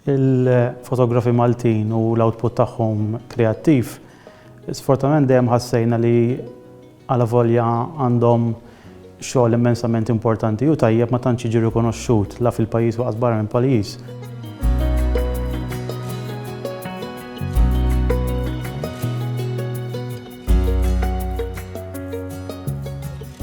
Il-fotografi Maltin u l-output tagħhom kreattiv sfortunatament dejjem ħassejna li alavolja għandhom xogħol immensament importanti u tajjeb ma tantx jiġi rikonoxxut la fil-pajjiż u lanqas barra mill-pajjiż.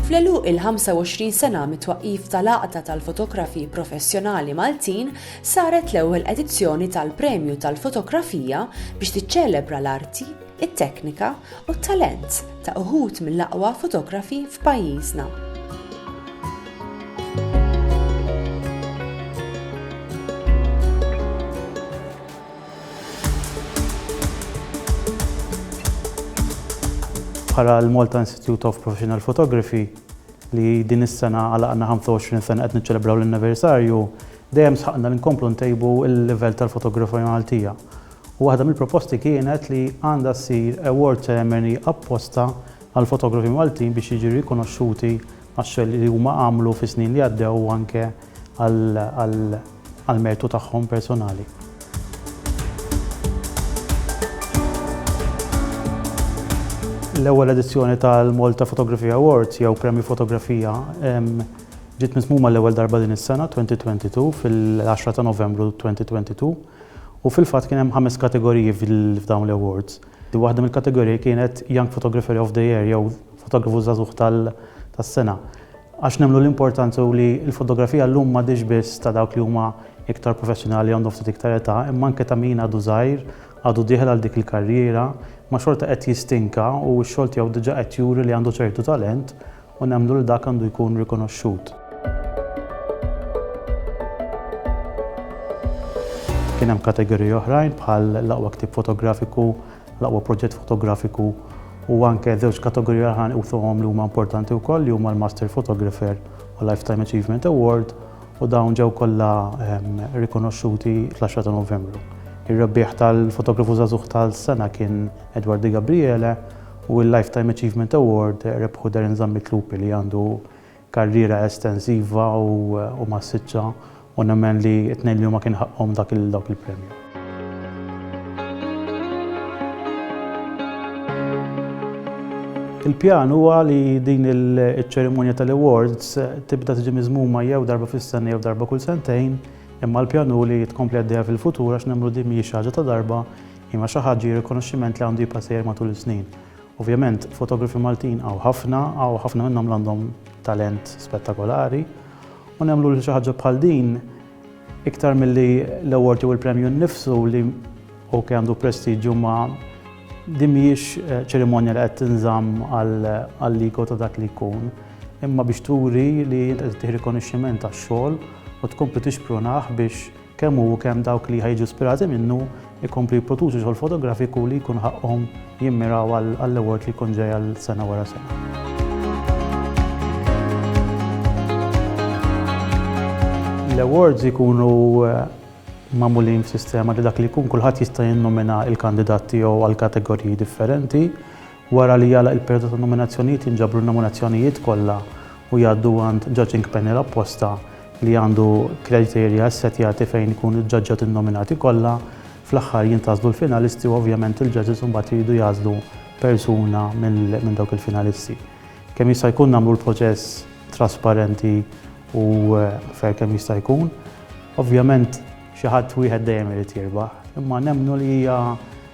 Fl-għeluq il-25 sena mit-twaqqif tal-Għaqda tal-Fotografi Professjonali Maltin, Saret l-ewwel edizzjoni tal-Premju tal-Fotografija biex tiċċelebra l-arti, it-teknika u t-talent ta' uħud mill-aqwa fotografi f'pajjiżna. bħala l-Malta Institute of Professional Photography li din is-sena għalaqna 25 sena qed niċċelebraw l-anniversarju, Dejjem sħaqna li nkomplu ntejbu l-livell tal-fotografija Maltija u waħda mill-proposti kienet li għandha ssir award ceremony apposta għall-fotografi Maltin biex jiġu rikonoxxuti għax-xogħol li huma għamlu fis-snin li għaddew u anke għall-mertu tagħhom personali. L-ewwel edizzjoni tal-Malta Photography Awards jew Premju Fotografija Ġiet miżmuma għall-ewwel darba din is-sena, 2022, fil-10 ta' Novembru 2022, u fil-fatt kien hemm ħames kategoriji f'dawn l-awards. Waħda mill-kategoriji kienet Young Photographer of the Year jew Fotografu Żagħżugħ tas-Sena. Għax nemmnu l-importanza hu li l-fotografija llum m'għadhiex biss ta' dawk li huma iktar professjonali għandhom ftit iktar età, imma anke ta' min għadu żgħir, għadu dieħel għal dik il-karriera, imma xorta qed jistinka u x-xogħol tiegħu diġà qed juri li għandu ċertu talent u nemmnu li dak għandu jkun rikonoxxut. Kien hemm kategoriji oħrajn bħal l-aqwa ktieb fotografiku, l-aqwa proġett fotografiku u anke żewġ kategoriji oħrajn usuhom li huma importanti wkoll li huma l-Master Photographer u Lifetime Achievement Award u dawn ġew kollha ehm, rikonoxxuti fl-10 ta' Novembru. Ir-rebbieħ tal-fotografu żagħżugħ tal-sena kien Edward Di Gabriele u l-Lifetime Achievement Award rebħu Darren Zammit Lupi li għandu karriera estensiva u massiċċa u nemmen li t-tnejn li huma kien ħaqqhom dak il-premju. Il-pjan huwa li din iċ-ċerimonja tal-awards tibda tiġi miżmuma jew darba fis-sena jew darba kull sentejn, imma l-pjan hu li tkompli għaddejja fil-futur għax nemmnu din mhijiex xi ħaġa ta' darba Hi ma xi ħaġġa hi rikonoxximent li għandu jibqa' sejjer matul is-snin. Ovvjament fotografi Maltin hawn ħafna, hawn ħafna minnhom li għandhom talent spettakolari u nemmlu li xi ħaġġa bħal din iktar milli l-award jew il-premju nnifsu li ok għandu prestiġju ma din mhijiex eh, ċerimonja li qed tinżamm għall-ligo ta' dak li jkun imma biex turi li qed tieħ rikonoxximent għax-xogħol u tkompli tixprunah biex kemm hu u kemm dawk li ħa jiġu ispirati minnu jkomplu jipproduċu xogħol fotografiku li jkun ħaqqhom jimmiraw għall-award li jkun ġej għal sena wara sena. L-awards ikunu eh, mamulin f'sistema li dak li jkun kulħadd jista' jinnomina il-kandidat tiegħu għal kategoriji differenti Wara li jagħlaq il-perjodu ta' nominazzjonijiet jinġabru n-nominazzjonijiet kollha u jgħaddu għand judging panel apposta li għandu kriterja ssettjati fejn ikunu ġġaġġati n-nominati kollha. Fl-aħħar jintgħażlu l-finalisti u ovvjament il-judges imbagħad iridu jagħżlu persuna minn dawk il-finalisti. Kemm jista' jkun nagħmlu l-proċess trasparenti u fair kemm jista' jkun. Ovvjament xi ħadd wieħed dejjem irid jirbaħ, imma nemmnu li hija